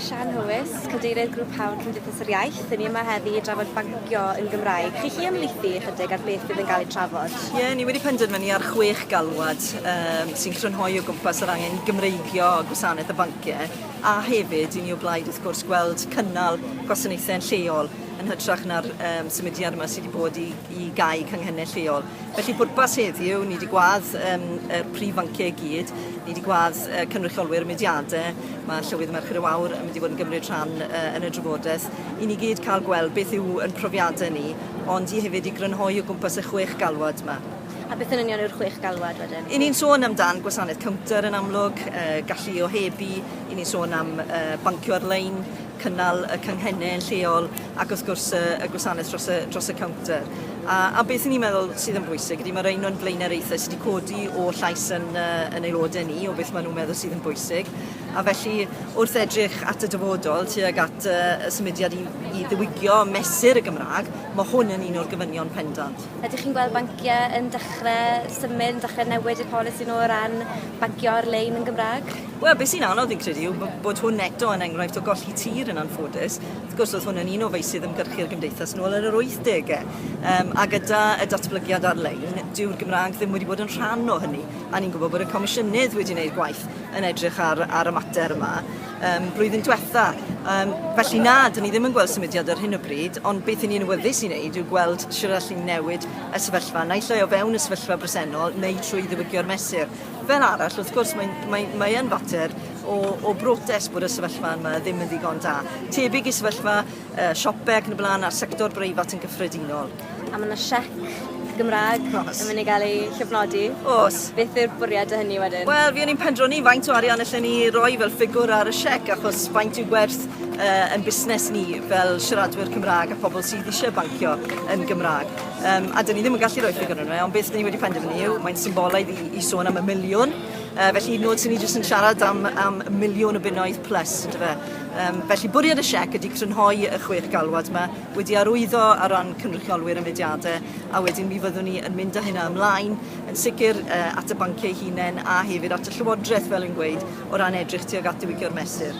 Siân Hywys, Cadeirydd Grŵp Hawl Cymdeithas yr Iaith. Dyn ni yma heddi i drafod bancio yn Gymraeg. Chi chi ymlaethu ychydig ar beth bydd yn cael ei trafod? Ie, yeah, ni wedi penderfynu ar chwech galwad um, sy'n crynhoi o gwmpas yr angen i Gymreigio gwasanaeth y banciau a hefyd i ni o blaid wrth gwrs gweld cynnal gwasanaethau yn lleol yn hytrach na'r um, symudiad yma sydd wedi bod i, i gau cynghennau lleol. Felly pwrpas heddiw, ni wedi gwad um, y prif fanciau i gyd, ni wedi gwad uh, cynrychiolwyr y mudiadau, mae Llywydd Merchyr y Wawr yn mynd i fod yn gymryd rhan uh, yn y drafodaeth, i ni gyd cael gweld beth yw yn profiadau ni, ond i hefyd i grynhoi o gwmpas y chwech galwad yma. A beth yn union yw'r chwech galwad wedyn? I ni'n sôn amdan gwasanaeth cownter yn amlwg, uh, gallu o hebu, i ni'n sôn am uh, bancio ar-lein, cynnal y cynghennau yn lleol ac wrth gwrs y, y gwasanaeth dros y, dros y cownter. A, a beth 'y ni'n meddwl sydd yn bwysig ydy mae'r un o'n blaenoriaethau sy' 'di codi o llais yn yy yn aelodau ni o beth maen nhw'n meddwl sydd yn bwysig a felly wrth edrych at y dyfodol tuag at yy y symudiad i i ddiwygio mesur y Gymraeg mae hwn yn un o'r gofynion pendant. Ydych chi'n gweld banciau yn dechrau symud, yn dechrau newid y polisi nhw o ran bancio ar-lein yn Gymraeg? Wel, beth sy'n anodd fi'n credu yw bod hwn eto yn enghraifft o golli tir yn anffodus. Wrth gwrs, oedd hwn yn un o feysydd ymgyrchu'r Gymdeithas yn ôl yn yr 80au, um, a gyda y datblygiad ar-lein, dyw'r Gymraeg ddim wedi bod yn rhan o hynny. A ni'n gwybod bod y Comisiynydd wedi gwneud gwaith yn edrych ar, ar y mater yma um, blwyddyn diwetha. Um, felly na, dyn ni ddim yn gweld symudiad ar hyn o bryd, ond beth i ni'n wyddus i wneud yw gweld sy'n allu newid y sefyllfa, naill ai o fewn y sefyllfa bresennol neu trwy ddiwygio'r mesur. Fel arall, wrth gwrs, mae'n mae, mae fater o, o brotest bod y sefyllfa yma ddim yn ddigon da. Tebyg i sefyllfa uh, siopau ac yn y blaen a'r sector breifat yn gyffredinol. A mae yna siec Gymraeg Os. yn mynd i gael ei llofnodi. Os. Beth yw'r bwriad o hynny wedyn? Wel, fi o'n i'n pendroni faint o arian allan ni roi fel ffigwr ar y siec, achos faint yw gwerth uh, yn busnes ni fel siaradwyr Cymraeg a phobl sydd eisiau bancio yn Gymraeg. Um, a dyn ni ddim yn gallu rhoi ffigwr yn yma, ond beth dyn ni wedi penderfynu yw, mae'n symbolaidd i, i sôn am y miliwn Uh, felly, nod sy'n ni jyst yn siarad am, am miliwn o bunnoedd plus, ynddo fe. Um, felly, bwriad y siec ydy crynhoi y chwech galwad yma, wedi arwyddo ar ran cynrychiolwyr y mudiadau, a wedyn mi fyddwn ni yn mynd â hynna ymlaen, yn sicr uh, at y banciau hunain a hefyd at y llywodraeth, fel yn gweud, o ran edrych tuag at diwygio'r mesur.